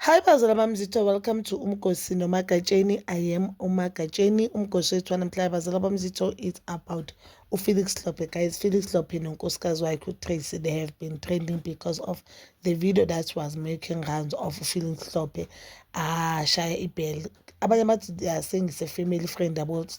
Hi bazala bami zitho welcome to umgosi nomagatsheni I am umagatsheni umgosi wethu wanamhlanje bazala bami zitho it's about uFelix Hlophe guys Felix Hlophe nonkosikazi wakhe uTracy they have been trending because of the video that was making rounds of Felix Hlophe ashaya ah, ibhele abanye bathi they are saying it's a family friend about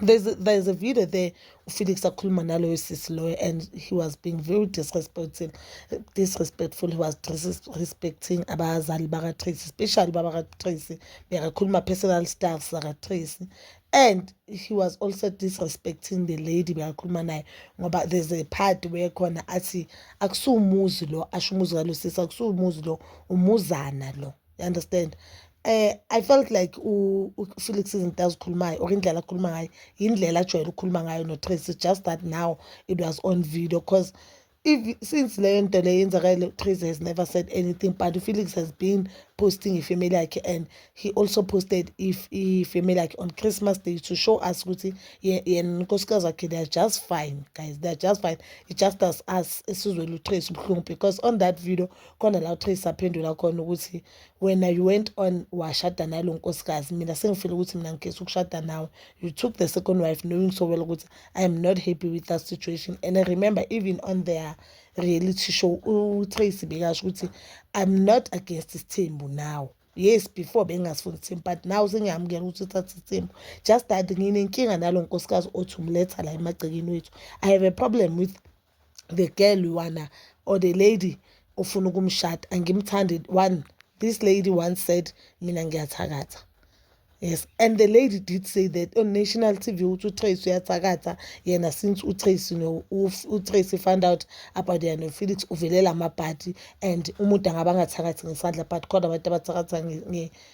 there's a, there's a video there ufelix akhuluma naloyo sisi loyo and he was being very disrespectful disrespectful he was disrespecting abazali bakatracy especially baba katracy bekakhuluma personal stuff zakatracy and he was also disrespecting the lady bekakhuluma naye ngoba there's a part where khona athi akusiwumuzi lo asho umuzi kalo sisi akusiwumuzi lo umuzana lo you understand eh i felt like uFelix izinto azikhulumayo or indlela akhuluma ngayo indlela ajwayele ukukhuluma ngayo noTracy just that now it was on video because if since leyo nto leyo yenzakale Tracy has never said anything but uFelix has been posting ifamily yakhe and he also posted if ifamily yakhe on Christmas day to show us ukuthi yena unkosikazi wakhe they are just fine guys they are just fine it just as us esizwele uTracy ubuhlungu because on that video khona la uTracy aphendula khona ukuthi wena you went on washada nalo nkosikazi mina sengifile ukuthi mina ngigesi ukushada nawe you took the second wife knowing so well ukuthi i am not happy with that situation and I remember even on their reality show uTracy bekasho ukuthi i'm not against isithembu now yes before bengasifuni ithembu but now sengiyamukela ukuthi uthatha ithembu just that nginenkinga nalo nkosikazi othi umletha la emagcekeni wethu i have a problem with the girl wana or the lady ofuna ukumshada angimthandi one this lady once said mina ngiyathakatha yes and the lady did say that on national tv ukuthi utrace uyathakatha yena since utrace utrace found out about yena nofelix uvelela amabhadi and umuntu angaba angathakathi ngesandla but khona abantu abathakatha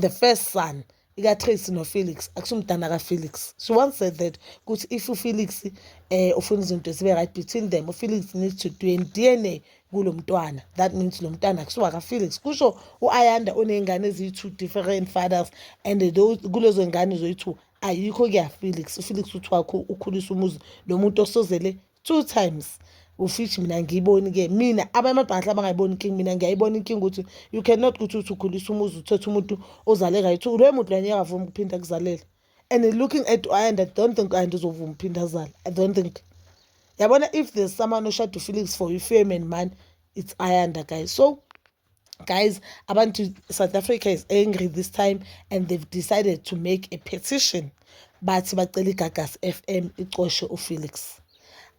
the first son ikaTracy noFelix akusumdana kaFelix she once said that ukuthi if uFelix eh ufuna izinto zibe right between them uFelix needs to do DNA kulo mntwana that means lo mntwana kusuka kaFelix kusho uAyanda onezingane eziyi-two different fathers and those kulezo ngane zoyi-two ayikho kuyaFelix uFelix uthi wakho ukhulisa umuzi lo muntu osozele two times of which mina angiyiboni-ke mina abamabhanhla abangayiboni inkinga mina ngiyayibona inkinga ukuthi you cannot ukuthi uthi ukhulisa umuzi uthethe umuntu ozale right loyo muntu loyo ngeke avuma ukuphinda kuzalela and looking at and i don't think and uzovuma uphinda azale i don't think yabona if there's someone oshada ufelix for you fame and money it's ayanda guys so guys abantu south africa is angry this time and they've decided to make a petition bathi bacela igagas f m icoshe ufelix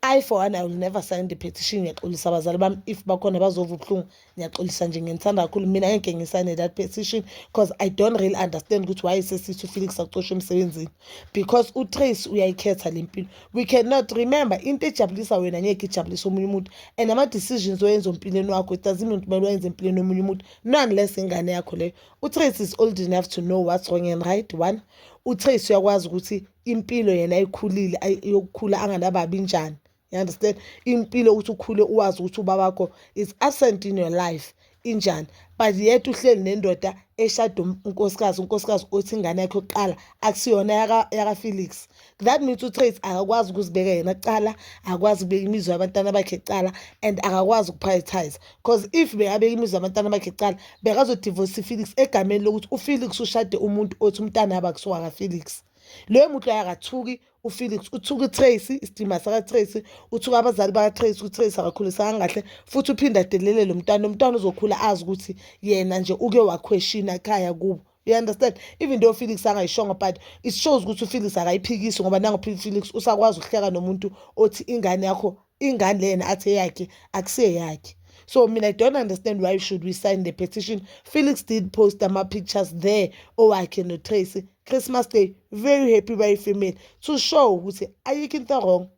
I for one I will never sign the petition ngiyaxolisa abazali bami if bakhona bazova ubuhlungu ngiyaxolisa nje nginithanda kakhulu mina ngeke ngisayine that petition because I don't really understand ukuthi why sesithi uFelix acoshe emsebenzini because uTrace uyayikhetha lempilo we cannot remember into ejabulisa wena ngeke ijabulise omunye umuntu and ama-decisions oyenza empilweni wakho it doesn't mean kumele wayenze empilweni omunye umuntu no unless ingane yakho leyo utrace is old enough to know what's wrong and right one utrace uyakwazi ukuthi impilo yena ayikhulile yokukhula anganababi njani you understand impilo ukuthi ukhule uwazi ukuthi ubaba wakho is absent in your life injani but yet uhleli nendoda eshada um-, unkosikazi unkosikazi othi ingane yakhe yokuqala akusiyona yakafelix that means utrace akakwazi ukuzibeka yena kuqala akakwazi ukubeka imizwa yabantwana bakhe kuqala and akakwazi ukuprioritize because if bekabeka imizwa yabantwana bakhe kuqala bekazodivorce ifelix egameni lokuthi ufelix ushade umuntu othi umntana yabo akusiwakafelix leyo muntu loyo akathuki ufelix uthuka utracy isidima sakatracy uthuka abazali bakatracy utracy akakhulisanga kahle futhi uphinde adelelele umntwana umntwana uzokhula azi ukuthi yena nje uke wakhweshina ekhaya kubo you understand even though ufelix angayishongo but it shows ukuthi ufelix akayiphikisi ngoba nangophile ufelix usakwazi ukuhleka nomuntu othi ingane yakho ingane lena athi eyakhe akuseyakhe so mina i don't understand why should we sign the petition felix did post ama-pictures there owakhe notracy christmas day very happy bayi-female to show ukuthi ayikho into wrong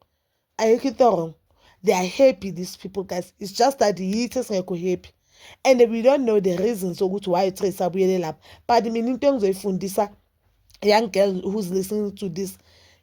ayikho into wrong they are happy these people guys it's just that yithi esingekho happy and we don't know the reasons ukuthi why utracy abuyele lapho but mina into engizoyifundisa young girl who's listening to this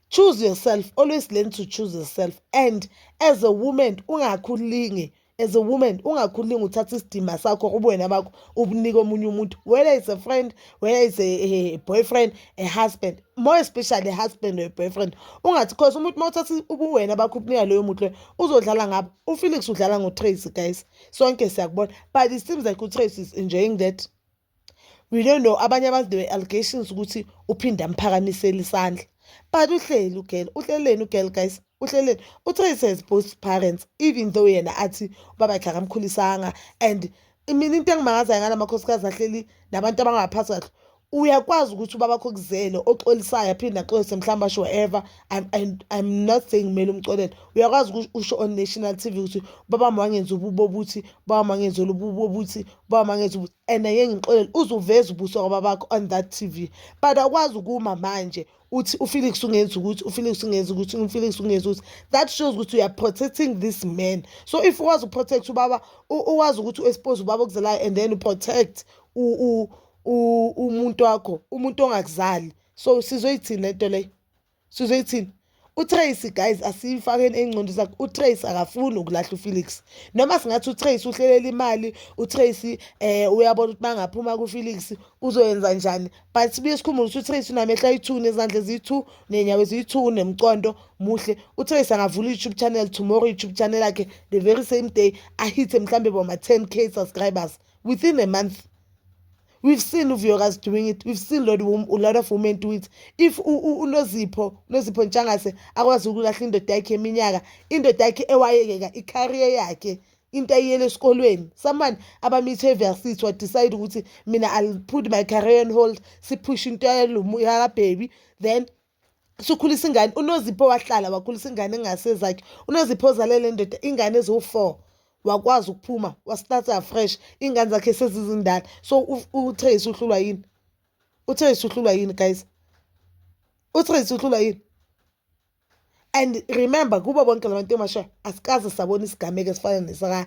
choose yourself always learn to choose yourself and as a woman ungakhulingi as a woman ungakhulingi uthatha isidima sakho ubuwena bakho ubunike omunye umuntu whether is a friend whether is a, a boyfriend a husband more especially a husband or a boyfriend ungathi cause umuntu uma uthatha ubuwena bakho ubunika loyo muntu loyo uzodlala ngabo ufelix udlala ngotracy guys sonke siyakubona but it seems like utracy is enjoying that we don't know abanye abantu there were allegations ukuthi uphinde amphakamisela isandla but uhleli ugirl uhleleni ugirl guys uhleleni utrace has both parents even though yena athi ubaba yakhe akamkhulisanga and mina into engimangazayo ngala makhosikazi ahleli nabantu abangaphathi kahle uyakwazi ukuthi ubaba wakho kuzele oxolisayo aphinde axolise mhlawumbe asho whatever I'm, I'm, I'm not saying kumele umxolele uyakwazi ukuthi usho on national TV ukuthi ubaba wangenza ububo obuthi ubaba wangenza lobubo obuthi Baba mangezi ukuthi and ngeke ngixolele uzuveza ubuso kwababakho on that TV but awukwazi ukuma manje uthi uFelix ungenza ukuthi uFelix ungenza ukuthi uFelix ungenza ukuthi that shows ukuthi you are protecting this man so if ukwazi uprotect ubaba uwazi ukuthi uexpose ubaba okuzalayo and then uprotect umuntu wakho umuntu ongakuzali so sizoyithini lento leyo sizoyithini utrace guys asiyifakeni ey'ngcondo zakhe utrace akafuni ukulahla ufelix noma singathi utrace uhlelela imali utrace um uyabona ukuthi bangaphuma kufelix uzoyenza njani but sibuye sikhumbule ukuthi utrace unamehla ayi-two nezandla eziyi-two ney'nyawo eziyi-two unemcondo muhle utrace angavula i-youtube channel tomorrow i-youtube channel yakhe the very same day ahithe mhlawumbe boma-ten k subscribers within a month We've seen uVuyokazi doing it. We've seen Lord Wom, a lot of women do it. If uNozipho, Nozipho Ntshangase akwazi ukulahla indoda yakhe eminyaka, indoda yakhe ewayekeka i-career yakhe into ayiyele esikolweni someone abamithe eversity wadecide ukuthi mina i'll put my career on hold siphushe into yalomuyakabhebi then sukhulisa ingane unozipho wahlala wakhulisa ingane engasezakhe unozipho ozalele ndoda ingane eziwu-four wakwazi ukuphuma wastarta fresh iy'ngane zakhe sezizindala so utrace uhlulwa yini utrace uhlulwa yini guys utrace uhlulwa yini and remember kubo bonke la bantu emasha asikaze sabona isigameko esifana nesaka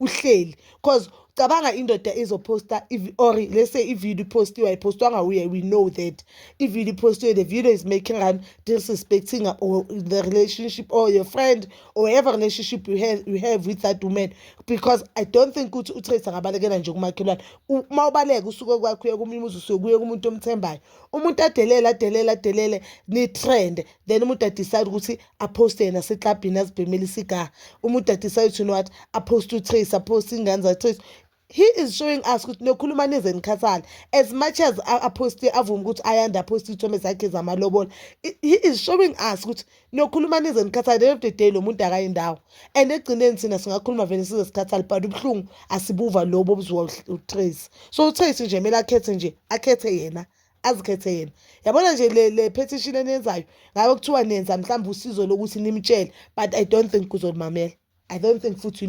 uhleli cause cabanga indoda izoposta or let's say ivideo ipostiwe ayipostwanga uye we know that ivideo ipostiwe the video is making an disrespecting or the relationship or your friend or whatever relationship you have, you have with that woman because i don't think ukuthi utrace angabalekela nje kumakhelwane uma ubaleka usuke kwakho uye komunye umuzi usuke kuye kumuntu omthembayo umuntu adelele adelele adelele ni-trend then umuntu adecide ukuthi aphoste yena seklabhini azibhemele isigaha umuntu adecide to what aphoste utrace aphoste ingane zatrace he is showing us ukuthi nokhuluma nize nikhathale as much as aphoste avume ukuthi ayanda aphoste iy'thombe zakhe zamalobola he is showing us ukuthi nokhuluma nize nikhathale end of the day lo muntu akayi ndawo and ekugcineni thina singakhuluma vele size sikhathale but ubuhlungu asibuva lobo obuzwa utrace so utrace nje kumele akhethe nje akhethe yena azikhethe yena yabona nje le le petition eniyenzayo ngabe kuthiwa nenza mhlawumbe usizo lokuthi nimtshele but i don't think kuzolumamela i don't think futhi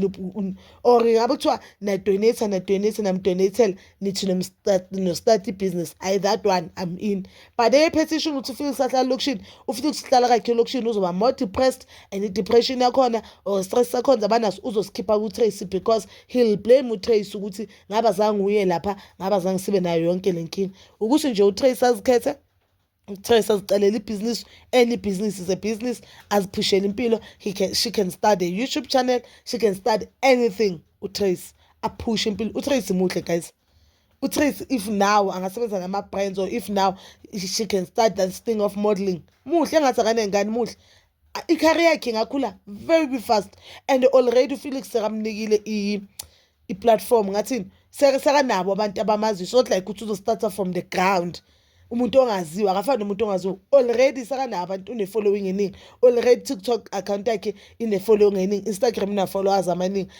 or ngabe kuthiwa nadonate nadonate namdonatel nithi nostart ibhizinisi i that one i'm in but eyepetition ukuthi ufike usahlala elokishini ufike ukusihlala kakhe elokishini uzoba more depressed and i-depression yakhona or stress sakhona zabanaso uzosikhipha kutracy because he'll blame utracy ukuthi ngaba zange uye lapha ngaba zange sibe nayo yonke le nkinga ukuthi nje utrace azikhethe utrace azicelela ibhizinisi any business is a business aziphushele impilo he can, she can start a youtube channel she can start anything utrace aphushe impilo utrace muhle guys utrace if now angasebenza nama-brands or if now she can start that thing of modeling muhle engathi akanengane muhle i-career yakhe ingakhula very fast and already ufelix sekamnikile i i-platform ngathini sekanabo abantu abamaziyo so like ukuthi uzostarta from the ground umuntu ongaziwa akafani nomuntu ongaziwa already sekanabo abantu une-following eningi already tiktok account yakhe ine-following eningi instagram ina-followers amaningi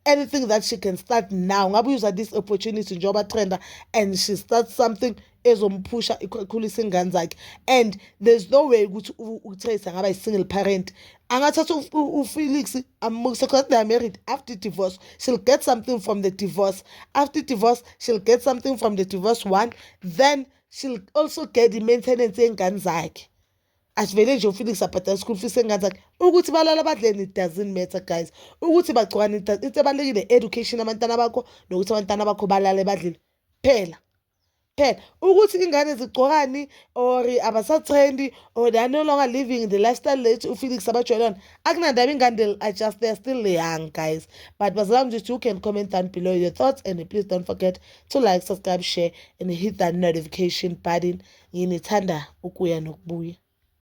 anything that she can start now ngabe user this opportunity njengoba trenda and she starts something ezomphusha ikhulisa ingane zakhe and there's no way ukuthi utrace angaba yi-single parent angathatha ufelix amukise because they are married after divorce she'll get something from the divorce after divorce she'll get something from the divorce one then she'll also get i-maintenance yey'ngane zakhe asivele nje ufelix abhadala school fees engane zakhe ukuthi balala badleni it doesn't matter guys ukuthi bagcokane into ebalulekile education abantwana bakho nokuthi abantwana bakho balale badlile phela care ukuthi ingane zigcokani or abasathrendi or they are no longer living the lifestyle late ufelix abajwayele yona akunandaba ingane they'll adjust they're still young guys but bazalwane nje you can comment down below your thoughts and please don't forget to like subscribe share and hit that notification button nginithanda ukuya nokubuya